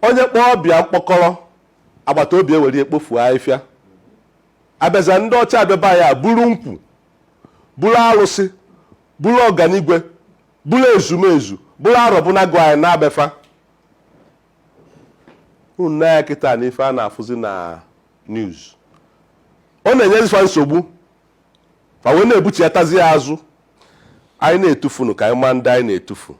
onye kpọọ ọba ya mkpọkọrọ agbata obi ewere ekpofu afịfịa abịaza ndị ọcha abịa be anyị buru nkwụ buru arụsị buru ọganigwe buru ezumezu buru arọbụnagụ anyị naa be fa unu nee anya kịta na ife a na-afụzi na news ọ na-enyezi fa nsogbu fa wee na-ebuchiatazi ya azụ anyị na-etufunu ka anyị maa ndị anyị na-etufu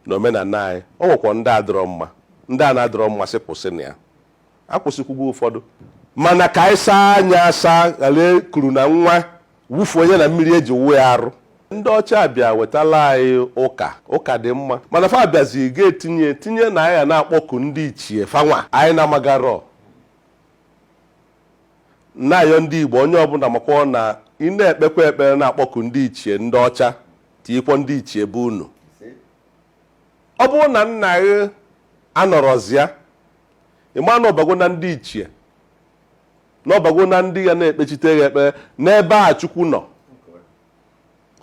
na omenala anyị ọ nwekwa ndị adịrọ mma ndị a na-adịrọ mma sị kwụsị nya akwụsịkwago ụfọdụ mana ka anyị saa anya asa ghara kuru na nwa wụfuo nya na mmiri e ji wụọ ya arụ ndị ọcha bịa wetala anyị ụka ụka dị mma mana fa bịazi ga-etinye tinye na anyị na-akpọku ndị ichie fa nwa anyị na-amagarọ na-ayọ ndị igbo onye ọbụla makwa na ị na-ekpekwa ekpere na-akpọku ndị ichie ndị ọcha tinyekwa ndị ichie be unu ọ bụrụ na nna gị anọrọzi ya ị ma na ọ bago na ndị ichie na ọ bago na ndị ya na-ekpechite gị ekpere n'ebe a chukwu nọ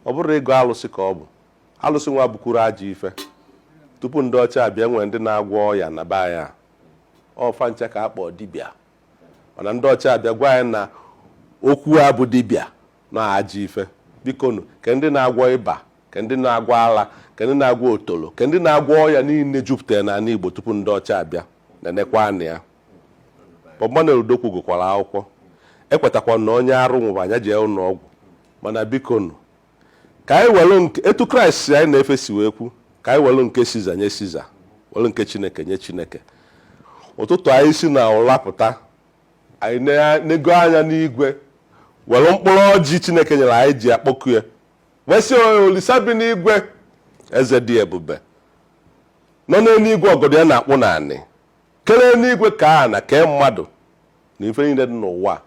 ọ bụrụ ịgọ alụsị ka ọ bụ alụsị nwa bụkwuru ajọ ife tupu ndị ọcha abịa e nwere ndị na-agwọ ọya na be anyị ọ fa ncha ka a kpọọ dibịa mana ndị ọcha abịa gwa anyị na okwu a bụ dibịa na ajọ ife bikonu ke ndị na-agwọ ịba ke ndị na-agwọ ala ke ndị na-agwọ otolo ke ndị na-agwọ ọya niile jupụtara n'anị Igbo tupu ndị ọcha abịa na nekwa anya Bob Manuel Udokwu gụkwara akwụkwọ ekwetakwa na onye arụ nwụba ya jee ụnọ ọgwụ mana bikonu ka anyị welụ etu kraịst anyị na-efe si wee kwu ka anyị welụ nke siza nye siza welụ nke chineke nye chineke ụtụtụ anyị si na ụla pụta anyị enego anya n'igwe welụ mkpụrụ ọjị chineke nyelụ anyị ji akpọku ya wee sị olisa bi n'igwe eze dị ebube nọ n'enu igwe ọgọdọ ya na-akpụ n'anị kelụ enu igwe kee ana kee mmadụ na ife niile dị n'ụwa a,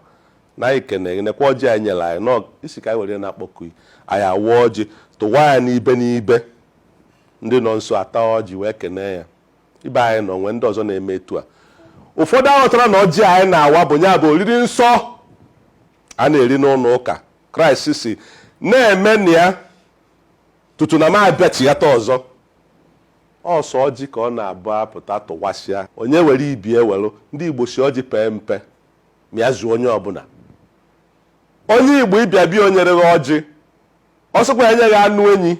na anyị kene gị nekwa ọjị i nyelụ anyị ị sị ka anyị were na-akpọku gị. anyị awa ọjị tụwa ya n'ibe n'ibe ndị nọ nso ata ọjị wee kenee ya ibe anyị nọ nwee ndị ọzọ na-eme etu a ụfọdụ aghọtara na ọjị anyị na-awa bụ nya bụ oriri nsọ a na-eri n'ụnọ ụka kraịst sị na-emenụ ya tutu na m abịachighata ọzọ Ọ sọ ọjị ka ọ na-abụ a pụta tụwasịa, onye were ibe ewelụ. Ndị Igbo sị ọjị pee mpe, ma ya zuo onye ọbụla. Onye Igbo ị bịa be ya o nyerọ gị ọjị, ọ sịkwa ya nye gị anụ enyi,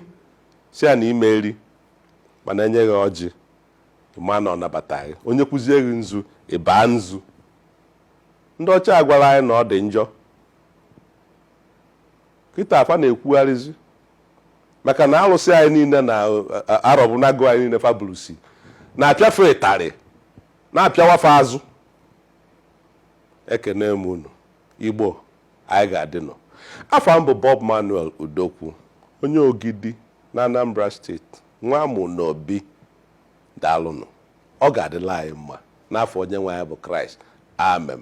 sị ya na ị ma-eri, mana e nye gị ọjị, ị maa na ọ nabata gị. O nyekwuzie gị nzu, ị baa nzu. Ndị ọcha agwala anyị na ọ dị njọ. Kịta fa na-ekwugharịzi maka na alụsị anyị niile na arọbụnagụ anyị niile fa bụlụzị na-apịa fa ịtarị na-apịawa fa azụ ekene m unu igbo anyị ga-adịnụ afa m bụ Bob Manuel Udokwu onye Ogidi na Anambra state nwa amụ na obi daalụnụ ọ ga-adịlị anyị mma n'afa onye nwe anyị bụ Kraịst amen